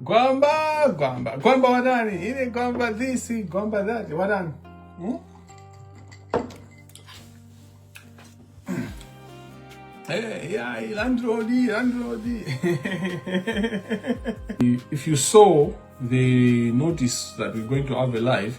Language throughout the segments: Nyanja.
gwamba gwamba gwamba watani ine gwamba this gwamba that watani hmm? Hey, yeah, landlord, landlord. if you saw the notice that we're going to have a live,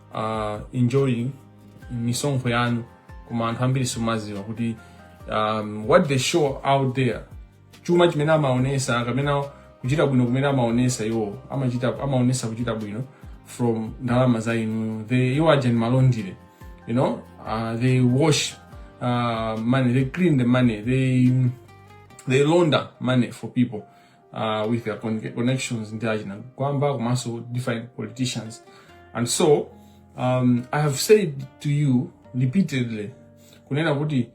uh, enjoying misonkho yanu koma anthu ambiri simumaziwa kuti um, what they show out there chuma chimene amaonesa kapena kuchita bwino kumene amaonesa iwo amachita amaonesa kuchita bwino from ndalama za inu they iwo aja ndi ma laundry you know uh, they wash uh, money they clean the money they they launder money for people uh, with their connections ndi achina Gwamba komanso different politicians and so um, i have said to you repeatedly kunena kuti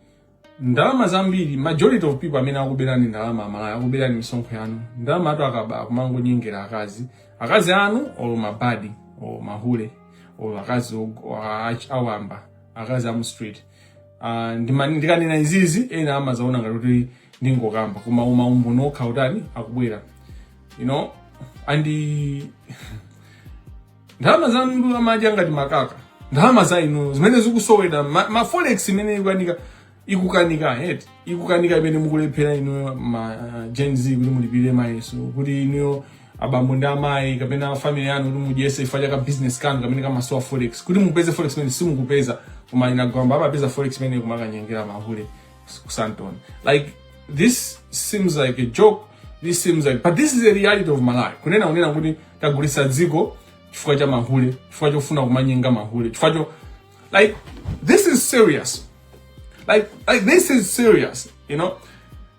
ndalama zambiri majority of people amene akuberani ndalama a Malawi akuberani misonkho yanu ndalama atu akaba kumangonyengera akazi akazi anu or mabadi or mahule or akazi awamba akazi amu street Ah, ndima- ndikanena izizi ena amazaona ngati kuti ndingokamba koma uma umboni okhawo utani akubwera you know and eh, ndalama zanu amadya ngati makaka ndalama za inu zimene zikusowedwa ma, ma forex imene ikukanika ikukanika eh ikukanika imene mukulephera inuyo ma uh, gen z kuti mulipire mayeso kuti inuyo abambo ndi amayi kapena family yanu kuti mudyese chifukwa cha ka business kanu kamene kamasowa forex kuti mupeze forex imene simukupeza koma achina Gwamba amapeza forex imene kumakanyengera mahule ku Sandton like this seems like a joke this seems like but this is the reality of malawi kunena unena kuti tagulitsa dziko chifukwa cha mahule chifukwa chofuna kumanyenga mahule chifukwa cho like this is serious like like this is serious you know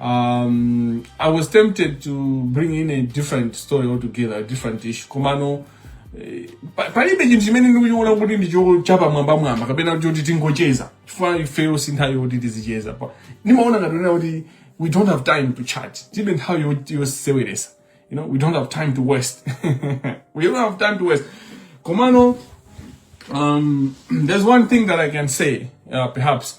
um, i was tempted to bring in a different story altogether a different issue komano eh, pa- palibe chinthu chimene ndikuchiona kuti ndichochapa mwambamwamba kapena choti tingocheza chifukwa ifeyo si nthawi yoti tizicheza pa ndimaona ngati kunena kuti we don't have time to chat tilibe nthawi yo- yoseweresa you know we don't have time to waste we don't have time to waste komano um, there's one thing that I can say, uh, perhaps,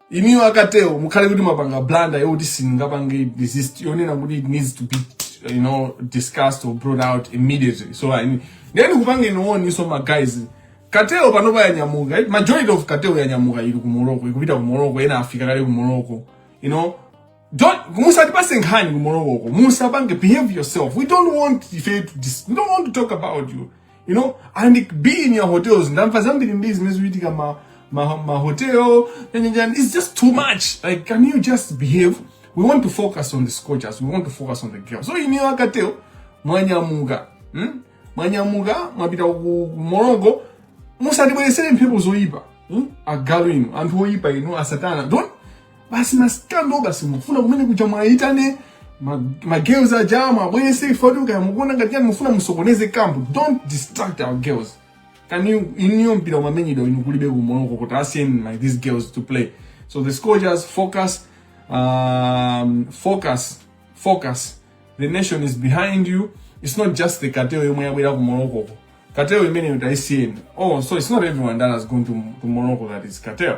Inuyo a cartel mukhale kuti mwapanga blunder yoti singapange deceased yonena kuti it needs to be you know discussed or brought out immediately so I mean nde ndikupangeni warn so ma guys cartel panopa yanyamuka eh, majority of cartel yanyamuka ili ku Morocco ikupita ku Morocco ena afika kale ku Morocco you know don't musatipase nkhani kumolowoko musapange behave yourself we don't want ife to dis we don't want to talk about you you know and be in your hotels ndamva zambiri mbiri zimene zikuchitika ma ma, ma hotel nyanyanyan it's just too much like can you just behave we want to focus on the scorchers we want to focus on the girls so iniyo akateo mwanyamuka hmm? mwanyamuka mwapita ku ku morongo musatibweresere mphepo zoyipa hmm? agalu inu anthu oyipa inu asatana don't basi ma scandal basi mufuna kumene kuja mwayitane ma- ma girls aja muwabweze kuti kaya mukuona ngati yani mufuna musokoneze kampu don't distract our girls kani inuyo mpira umamenyedwa inu kulibe ku Morocco kuti asiyeni like these girls to play so the scorchers focus um, focus focus the nation is behind you it's not just the cartel yomwe yabwera ku morocco ko cartel imeneyo taisiyeni oh so it's not everyone that has gone to, to morocco that is cartel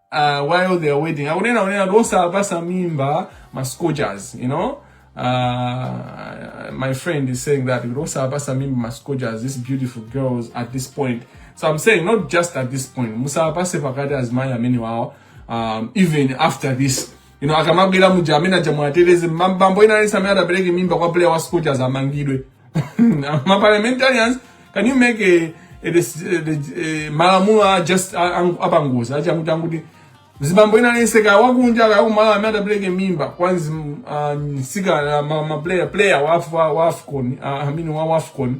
uh, while they are waiting akunena kunena kuti osawapasa mimba ma scorchers you know uh, my friend is saying that kuti osawapasa mimba ma scorchers these beautiful girls at this point so i'm saying not just at this point musapase pakati azimayi amenewawo um, even after this you know akamabwera muja amene aja muwateteze bambo wina aliyense amene atapereke mimba kwa player wa scorchers amangidwe ma parliamentarians can you make a, a, a, a malamulo a just apangozi achakuti anguti zibambo ina lese ka wakunja ka kumala amene adapereke mimba kwanzi uh, nsikana ma, ma player player wa wa, wa Afcon uh, I mean wa Afcon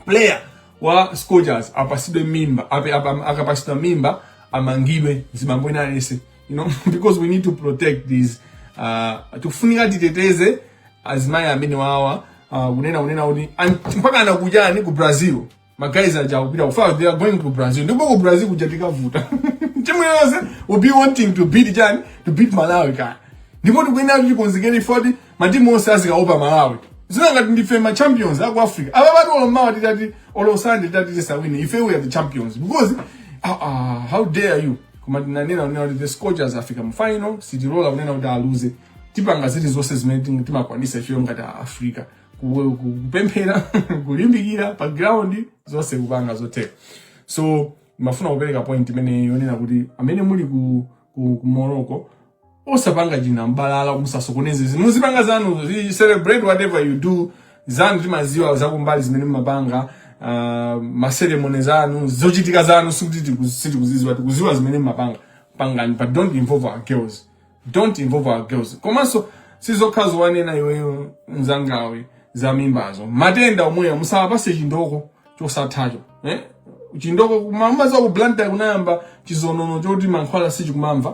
player wa Scorchers apasidwe mimba ape akapasidwa mimba amangidwe zibambo ina lese you know because we need to protect these uh, tikufunika titeteze azimayi amenewawa uh, kunena kunena kuti mpaka anakujani ku Brazil magayi aja akupita kufa they are going to Brazil ndipo ku Brazil kuja tikavuta timu yonse will be wanting to beat chani to beat Malawi kaya ndipo tikuyenera kuti tikonzekere 40 matimu onse azikaopa malawi zili ngati ndife ma champions aku africa apapa titi olo mmawa titati olo Sande titati tisawine ife we are the champions because ah, ah, how dare you koma tinanena kunena kuti the scorchers afika mu final sitilola kunena kuti aluze tipanga zili zonse zimene ting- timakwanisa ifeyo ngati a africa Ku- ku- kupemphera kulimbikira pa ground zonse kupanga zotheka so ndimafuna kupereka point imeneyo yonena kuti amene muli ku, ku, ku morocco osapanga chinambalala musasokoneze zinthu muzipanga zanuzo zi- celebrate whatever you do zanu timaziwa zakumbali zimene mumapanga uh, ma ceremony zanu zochitika zanu sikuti tiku- sitikuziziwa tikuziwa zimene mumapanga pangani but don't involve our girls don't involve our girls komanso sizokhazo wanena iweyo mzangawe za mimbazo matenda omweyo musawapatse chindoko chosathacho eh? chindoko kumamva za ku Blantyre kunayamba chizonono choti mankhwala sichikumamva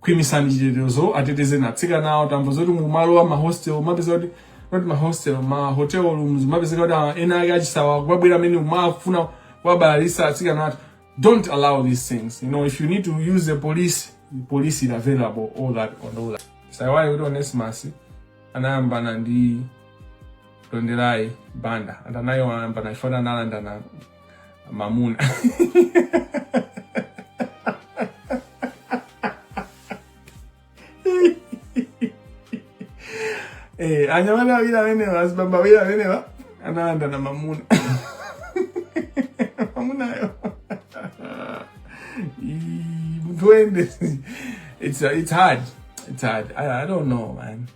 khwimisani chitetezo atetezeni atsikanawo tamva zoti kumalo a mahostel kumapezeka kuti not mahostel ma hotel rooms kumapezeka kuti ah, ena ake achisawa kumabwera amene akumafuna kuwabalalisa atsikana athu don't allow these things you know if you need to use the police the police is available all that on all that osaiwala kuti Onesimus anayambana ndi Tonderai banda anthawi nayo anayambana ifana analandana mamuna Eh, anyamata awiri amenewa azibambo awiri amenewa analandana mamuna mamunayo Ii, munthu wende it's, it's hard it's hard I, i don't know man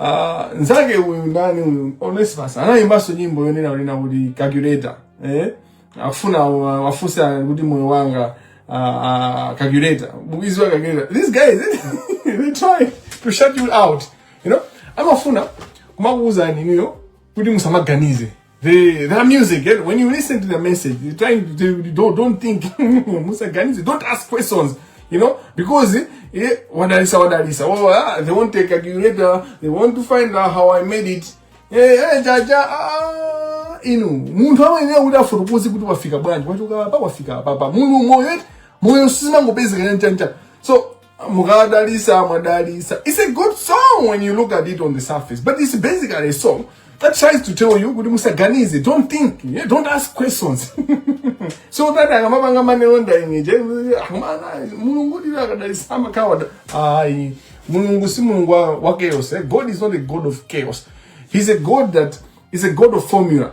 Ah, nzake uyu ndani uyu Onesimus anayimbanso nyimbo yonena kunena kuti calculator eh afuna awafunse kuti moyo wanga uh, uh, calculator bukizi wa calculator these guys they try to shut you out you know amafuna kumakuuza inuyo kuti musamaganize the their music. Eh? When you listen to the message, you're trying to don't don't think Musa Ganizi. Don't ask questions. You know, because eh, eh wadalisa wadalisa. Oh, ah, they won't take a curator. They want to find out how I made it. Eh, eh, jaja. Ah, inu munthu amene udafotokoze kuti wafika bwanji wachoka apa wafika apa pa mulu moyo moyo sinangopezeka chancha so Mukadalisa, Mwadalisa. It's a good song when you look at it on the surface, but it's basically a song that tries to tell you kuti musaganize don't think yeah? don't ask questions so that akamapanga manelonda imije amana mulungu ndira akadalisa amakawada ayi mulungu si mulungu wa chaos eh? god is not a god of chaos he's a god that is a god of formula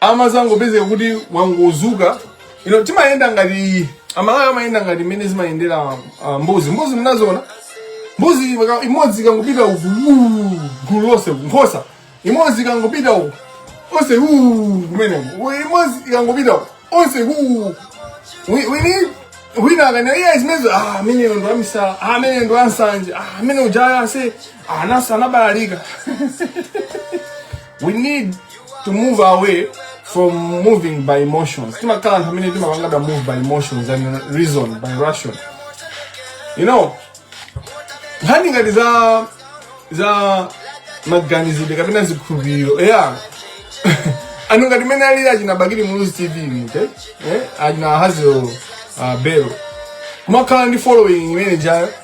amazangopezeka kuti wangozuka you know, timayenda ngati Amalawi amayenda ngati mmene zimayendera uh, mbuzi mbuzi munaziona mbuzi ika- imodzi ikangopita uku uu, gulu lonse uku, nkhosa imodzi ikangopita uku onse uu, kumeneko U- imodzi ikangopita uku onse uu. We- we need- wina akanena iye zimenezo ah, amene ndo amisala ah, amene ndo ansanje ah, amene ujaya ase ah, nawonso anabalalika we need to move away from moving by emotions tizikhala anthu amene timapangidwa move by emotions and reason by ration you know nkhani ngati za za maganizidwe kapena zikhulupiriro za anthu ngati mmene ali achina Bakili Muluzi TV mute eh achina hazio uh, bero kumakhala ndi following imene ijayo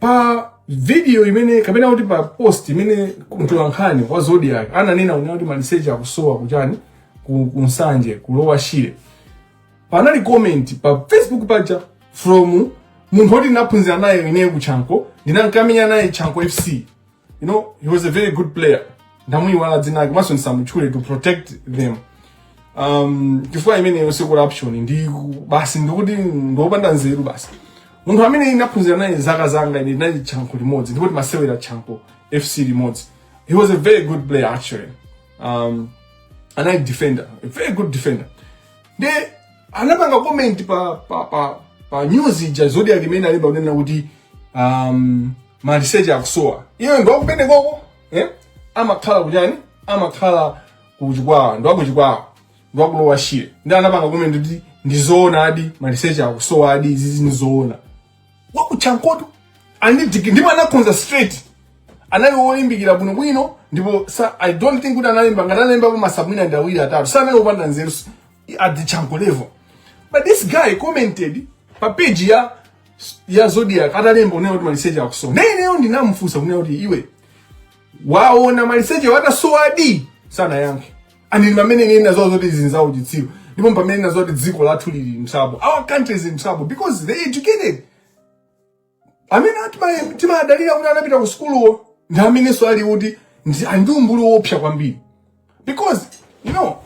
pa video imene kapena kuti pa post imene mtolankhani wa Zodiac ananena kunena kuti maliseche akusowa kujani ku, ku Nsanje ku Lower Shire panali comment pa Facebook paja from munthu woti ndinaphunzira naye ineyo ku Chanco ndinkamenya naye Chanco FC you know he was a very good player ndamuiwala dzina lake komanso ndisamutchule to protect them um chifukwa imeneyo si corruption ndi ku- basi ndikuti ndiopanda nzeru basi munthu amene ndinaphunzira naye zaka zanga ine ndinali Chanco limodzi ndipo timasewera Chanco FC limodzi he was a very good player actually um anali defender a very good defender nde anapanga comment pa pa pa, pa news ija ya Zodiac imene alemba kunena kuti um, maliseche akusowa iye ndi wakumenekoko eh? amakhala kujani amakhala ku Chikwawa ndi wa ku Chikwawa ndi wa ku Lower Shire nde anapanga comment kuti ndizoonadi maliseche akusowadi izizi ndizoona wa ku Chancotu anidiki ndipo anakhoza straight anali wolimbikira bwinobwino ndipo sa i don't think kuti analemba ngati analembapo ma supp mwina ndi awiri atatu sanali wopanda nzeru s- at the Chanco level but this guy commented pa page ya ya Zodiac atalemba kunena kuti maliseche akusowa naye ineyo ndinamufunsa kunena kuti iwe waona maliseche atasowadi sanayankhe ndiye ndi pamene ine ndinadziwa zoti izi ndi zauchitsiru ndipo pamene ndinadziwa kuti dziko lathu lili m'trouble our country is in trouble because the educated amene atima- timadalira kuti anapita ku sukuluwo ndi amenenso ali kuti ndi- ali ndi umbuli woopsa kwambiri because you know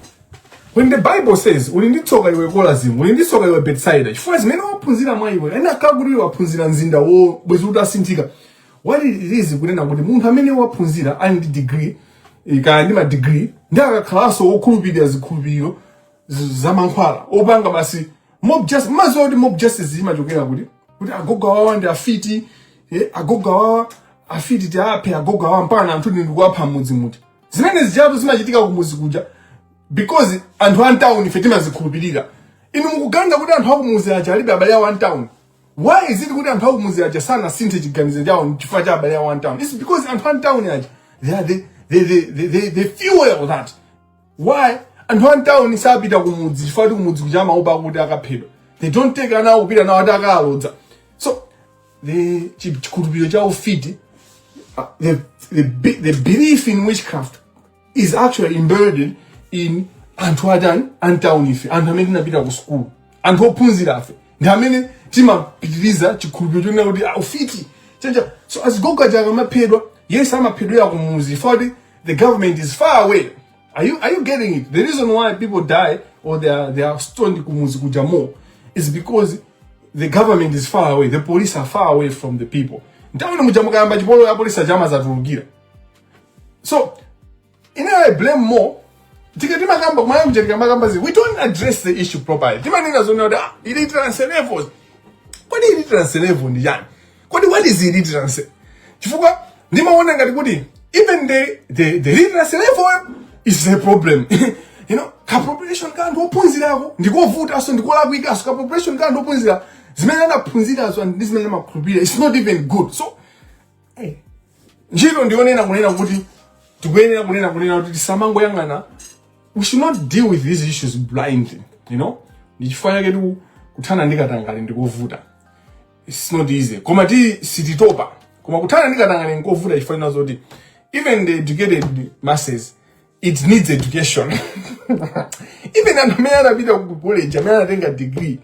when the bible says uli ndi tsoka iwe Korazini uli ndi tsoka iwe Betsaida chifukwa zimene waphunzira mwa iwe ena akanakhala kuti iwe waphunzira mzinda wo bwezi kuti atasinthika what it is kunena kuti munthu amene waphunzira ali ndi degree eh, kaya ndi madegree nde akakhalanso wokhulupirira zikhulupiriro z- za mankhwala opanga basi mob justice mudziwa kuti mob justice imachokera kuti kuti agogo awawa ndi afiti eh, agogo awawa afiti tiaphe agogo awawa mpaka ana anthu ndikuwapha mmudzi muti zimene zijatu zimachitika kumudzi kuja because anthu a m'town ife timazikhulupirira inu mukuganiza kuti anthu akumudzi aja alibe abale awo a m'town why is it kuti anthu akumudzi aja sanasinthe chiganizo chawo chifukwa cha abale awo a m'town it's because anthu a m'town aja they, are, they, they, they, they, they, they fuel that why anthu a m'town sapita kumudzi chifukwa kuti kumudzi kuja amaopa kuti akaphedwa they don't take ana awo kupita nawo ati akalodza the chikhulupiriro cha ufiti uh, the, the, the belief in witchcraft is actually embedded in anthu atani a m'tawuni ife anthu amene tinapita ku sukulu anthu ophunzira ife ndi amene timapitiriza chikhulupiriro chonena kuti ah, ufiti chenja so azigogo aja akamaphedwa yes amaphedwera kumudzi poti the government is far away Are you, are you getting it? The reason why people die or they are, they are stoned kumuzi kujamo is because the government is far away. The police are far away from the people. Ntawe ni mujamuka yamba chipolo ya police ajama za turugira. So, in I blame more tikatima kamba kumaya mjerika makamba zi we don't address the issue properly timanena zonena kuti ah, ili translevel kodi ili translevel ndi yani kodi what is illiteracy chifukwa ndimaona ngati kuti even the, the, the literacy level is a problem you know ka population ka anthu ophunzirako ndikovutanso ndikolakwikanso ka population ka anthu ophunzira zimene anaphunzirazo ndi zimene amakhulupirira it's not even good so hey, ntchito ndionena kunena kuti tikuyenera kunena kunena kuti tisamangoyang'ana we should not deal with these issues blindly you know ndichifukwa chake tikuthana ndi katangale ndikovuta it's not easy komatu sititopa koma kuthana ndi katangale nkovuta chifukwa chonena zoti even the educated masses it needs education even anthu amene anapita ku college amene anatenga degree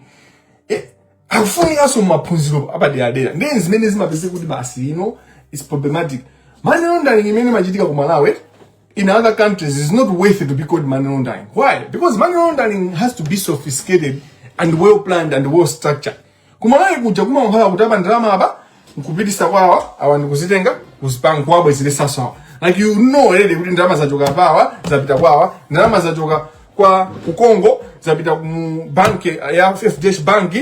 eh, akufunikanso maphunziro apaderadera ndiye ndi zimene zimapezeka kuti basi you know it's problematic money laundering imene imachitika ku malawi in other countries is not worth it to be called money laundering why because money laundering has to be sophisticated and well planned and well structured kumalawi kuja kumakhala kutapa ndalama apa nkupitisa kwawa awa nkuzitenga kuzipanga kuwabwezeresanso awa like you know already kuti ndalama zachoka apawa zapita kwawa ndalama zachoka kwa Kunkongo zapita mu bank ya fdh bank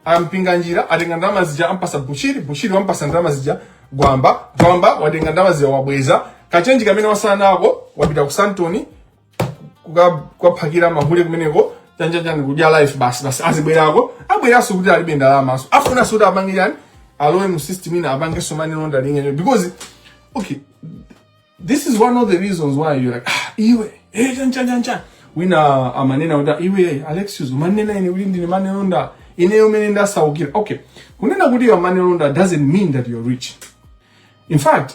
a Mpinganjira atenga ndalama zija ampasa bushiri bushiri wampasa ndalama zija gwamba gwamba watenga ndalama zija wabweza kachenji kamene watsala nako wapita ku Sandton kukaphakira mahule kumeneko chanjanjani kudya life basi basi adzibwerako abweranso kuti alibe ndalamanso afunanso kuti apange chani alowe mu system ina apangenso money laundering yacho because okay this is one of the reasons why you're like ah iwe eh chanjanjanjan wina amanena kuti "Ah, iwe alexius umanena ine kuti ndine money launderer ineyo mene ndasaukira okay kunena kuti you're money launderer doesn't mean that you're rich in fact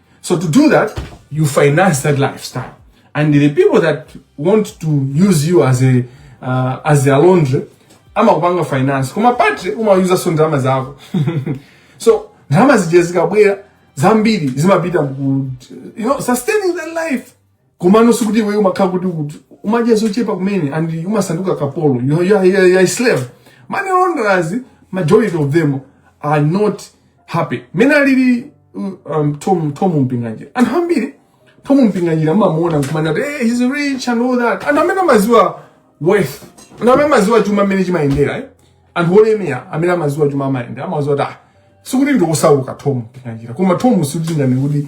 So to do that, you finance that lifestyle. And the people that want to use you as a uh, as their laundry, amakupanga finance. Koma pa three umayuzanso ndalama zako. so ndalama zija zikabwera zambiri zimapita you know sustaining that life komano sikuti iwe umakhala kuti ukut- umadya zochepa kumene and umasanduka kapolo you know, you are, you are, you are a slave money launderers majority of them are not happy mene alili um, tom, tom mpinganjira anthu ambiri tom mpinganjira amamuona nkumana kuti hey, he's rich and all that anthu amene amaziwa wealth anthu amene amaziwa chuma mmene chimayendera eh? anthu olemera amene amaziwa chuma mayendedwe amaziwa kuti ah, sikuti ndi osauka tom mpinganjira koma tom sikuti ngani kuti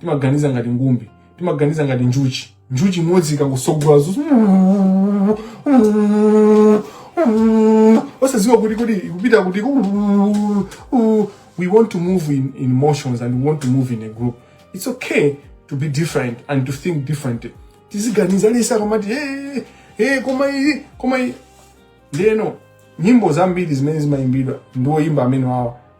timaganiza ngati ngumbi timaganiza ngati njuchi njuchi imodzi ikangosogola zuzu osadziwa kuti kuti ikupita kuti "Ooh, ooh." we want to move in, in emotions and we want to move in a group it's okay to be different and to think differently tiziganiza aliyense akamati hey, hey, koma iyi koma iyi ndeno nyimbo zambiri zimene zimayimbidwa ndi oyimba amene wawa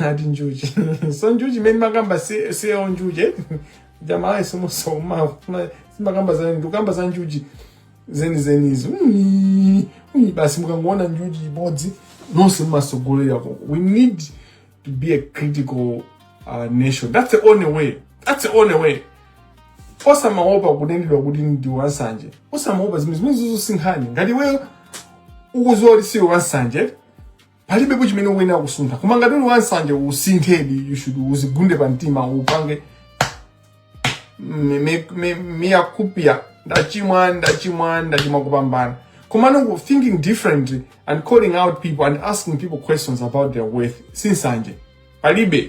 ati njuchi so njuchi imene ndimakamba si- siyo njuchi eh? jamalayi somusoma simakamba za ndikukamba za njuchi zenizenizi Ui, ui, basi mukangoona njuchi imodzi nonse mumasogolera ko we need to be a critical uh, nation that's the only way that's the only way osamaopa kunenedwa kuti ndi wansanje osamaopa zimene zimene zizosinkhani ngati iweyo ukuziwa kuti siwe wansanje palibepo chimene ukuyenera kusuntha koma ngati uli wansanje usinthedi you should uzigunde pa mtima upange mea culpa ndachimwa ndachimwa ndachimwa kupambana komano thinking differently and calling out people and asking people questions about their wealth si nsanje palibe